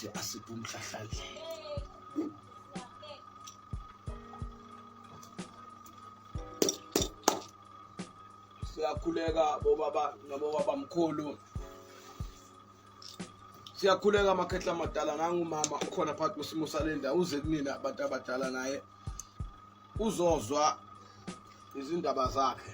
ukuthi asiphe umhlahlandlela siyakhuleka bobaba nabobaba mkhulu siyakhuleka amakhehla amadala nangumama ukhona phakathi kwesimo salenda uze kunina abantu abadala naye uzozwa izindaba zakhe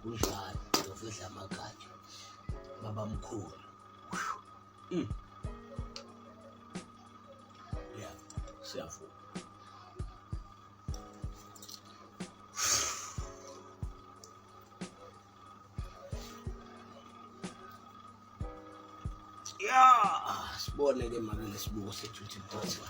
kunjalo ngiyofihla amagatsha babamkhulu mm. ya siyavuma sibone-ke mabele sibuko sethu ukuthi kuthiwa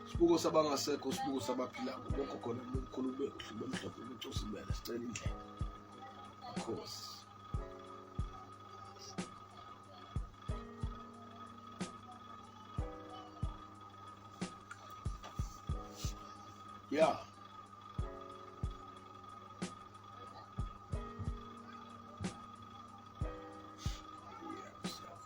sibuko sabangasekho sibuko sabaphila kubokho khona umkhulu be uhlube mhlophe ucusa ibele sicela indlela khosi Yeah.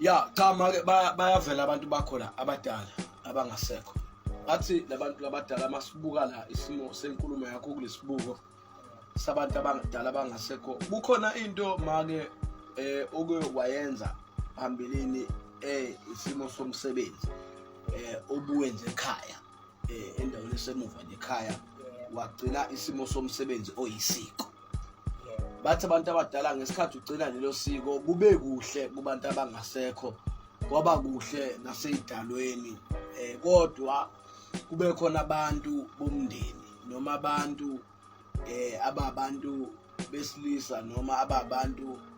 ya cha make bayavela abantu bakhona abadala abangasekho bathi labantu labadala masibuka la isimo senkulumo yakho kulesibuko sabantu abadala abangasekho kukhona into make eh oke wayenza phambilini eh isimo somsebenzi eh obuwenze ekhaya eh endaweni esemuva nekhaya wagcina isimo somsebenzi oyisiko bathi abantu abadala ngesikhathi ugcina lelo siko kube kuhle kubantu abangasekho kwaba kuhle naseyidalweni eh kodwa kube khona abantu bomndeni noma abantu eh ababantu besilisa noma ababantu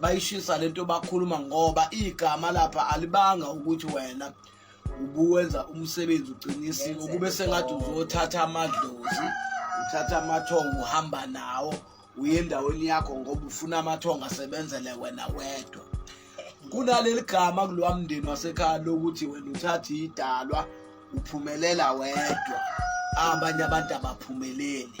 bayishisa lento bakhuluma ngoba igama lapha alibanga ukuthi wena ubuwenza umsebenzi uqinisile ukube sengathi uzothatha amadlozi uthatha amathongo uhamba nawo uye endaweni yakho ngoba ufuna amathongo asebenzele wena wedwa kunaleli gama kulowa mndeni wasekhaya lokuthi wena uthathe idalwa uphumelela wedwa abanye abantu abaphumeleli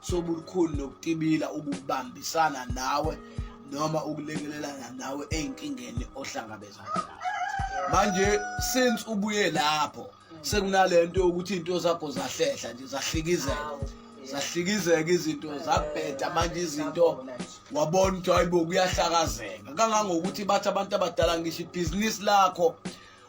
sobulukhulu nokutibila ukubambisana nawe noma ukulekelelana nawe ezinkingeni ohlangabezana nazo manje since ubuye lapho sekunalento yokuthi into zakho zahlehla nje zahlikizela zahlikizeka izinto zabheda manje izinto wabona ukuthi hayibo kuyahlakazeka kangangokuthi bathi abantu abadala ngisho ibhizinisi lakho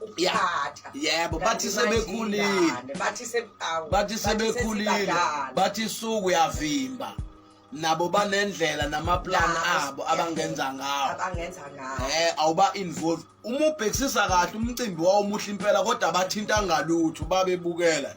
ukuthatha yebo bathi sebekhulile bathi sebawu bathi sebekhulile bathi suku uyavimba nabo banendlela namaplan abo abangenza ngawo abangenza ngawo eh awuba involve uma ubhekisisa kahle umcimbi wawo muhle impela kodwa bathinta ngalutho babebukela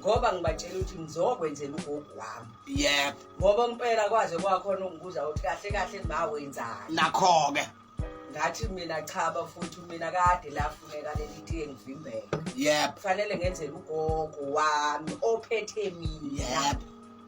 ngoba ngibatshela ukuthi ngizokwenzela ugogo wami yebo ngoba impela kwaze kwakhona ungibuza ukuthi kahle kahle ma wenzani nakho-ke ngathi mina cha bafuthi mina kade lafuneka leli tiye ngivimbele yebo kufanele ngenzele ugogo wami ophethe mina yebo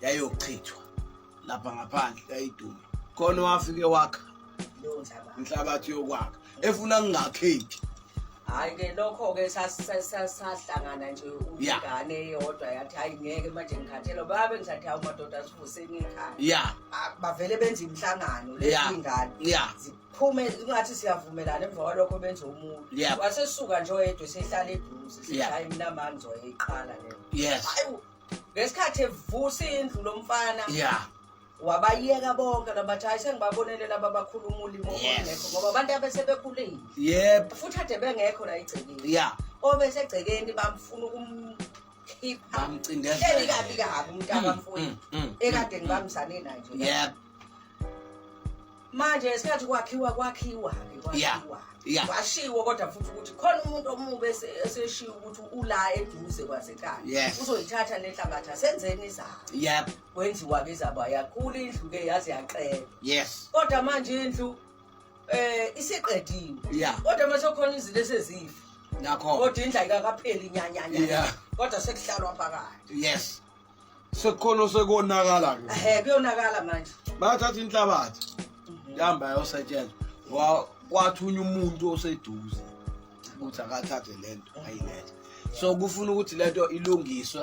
yayochithwa lapha ngaphandle yayiduma khona wafike wakha inhlabathi yokwakha efuna kungakheki hayi ke lokho ke sahlangana nje ingane eyodwa yathi hayi ngeke manje ngikhathela baba bengisathi hawu madoda sivuseni ikhaya ya ah, bavele benza imihlangano lezingane ya phume kungathi siyavumelana emva kwalokho benze umuntu wasesuka nje oyedwa sehlala eduze sishaya imnamani zoyiqala leyo yes ngesikhathi evusa indlu lomfana yeah wabayeka bonke labathi hayi sengibabonele laba bakhulu umulimo ongekho ngoba abantu abesebekhulile yep futhi ade bengekho la igcekeni yeah obesegcekeni bamfuna ukumkhipha bamcindezeli kabi kabi umntaka mm, mfowethu mm, mm, ekade ngibambisane naye nje yep manje ngesikhathi kwakhiwa kwakhiwa Yeah. kwakhiwa Yeah. kwashiwo kodwa futhi ukuthi khona umuntu omubi ese- eseshiwo ukuthi ula eduze kwasekhaya Yes. uzoyithatha nenhlabathi asenzeni izaba Yep. kwenziwa-ke izaba yakhula indlu-ke yaze yaqela Yes. kodwa manje indlu eh isiqediwe Yeah. kodwa mase khona izinto esezifa Nakho. kodwa indlu ayikakapheli nyanyanya Yeah. kodwa sekuhlalwa phakathi Yes. sekukhono sekonakala ke ehe kuyonakala manje bathatha inhlabathi mhm. yahamba yayosetshela kwathunya umuntu oseduze ukuthi akathathe le nto ayilethe so kufuna ukuthi le nto ilungiswe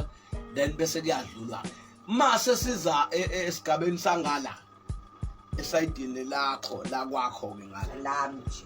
then bese kuyadlulwa ma sesiza e, e, esigabeni sangala esayidini lakho lakwakho-ke ngala lami nje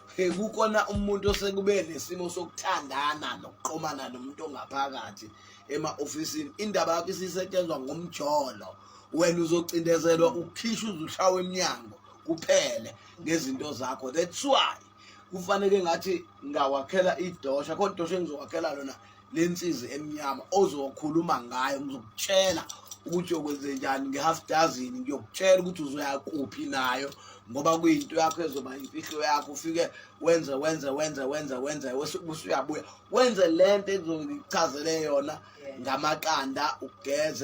kukhona umuntu osekube nesimo sokuthandana nokuqomana nomuntu ongaphakathi ema-ofisini indaba yakho isisetshenzwa ngomjolo wena uzocindezelwa ukhishwa uzushawa emnyango kuphele ngezinto zakho that's why kufanele ngathi ngawakhela idosha khona idosha engizowakhela lona lensizi emnyama ozokhuluma ngayo ngizokutshela ukuthi okwenze njani nge-half dozen ngiyokutshela ukuthi uzoya kuphi nayo ngoba kuyinto yakho ezoba imfihlo yakho ufike wenze wenze wenze wenze wenze usuyabuya wenze le nto ezokuchazele yona ngamaqanda ugeze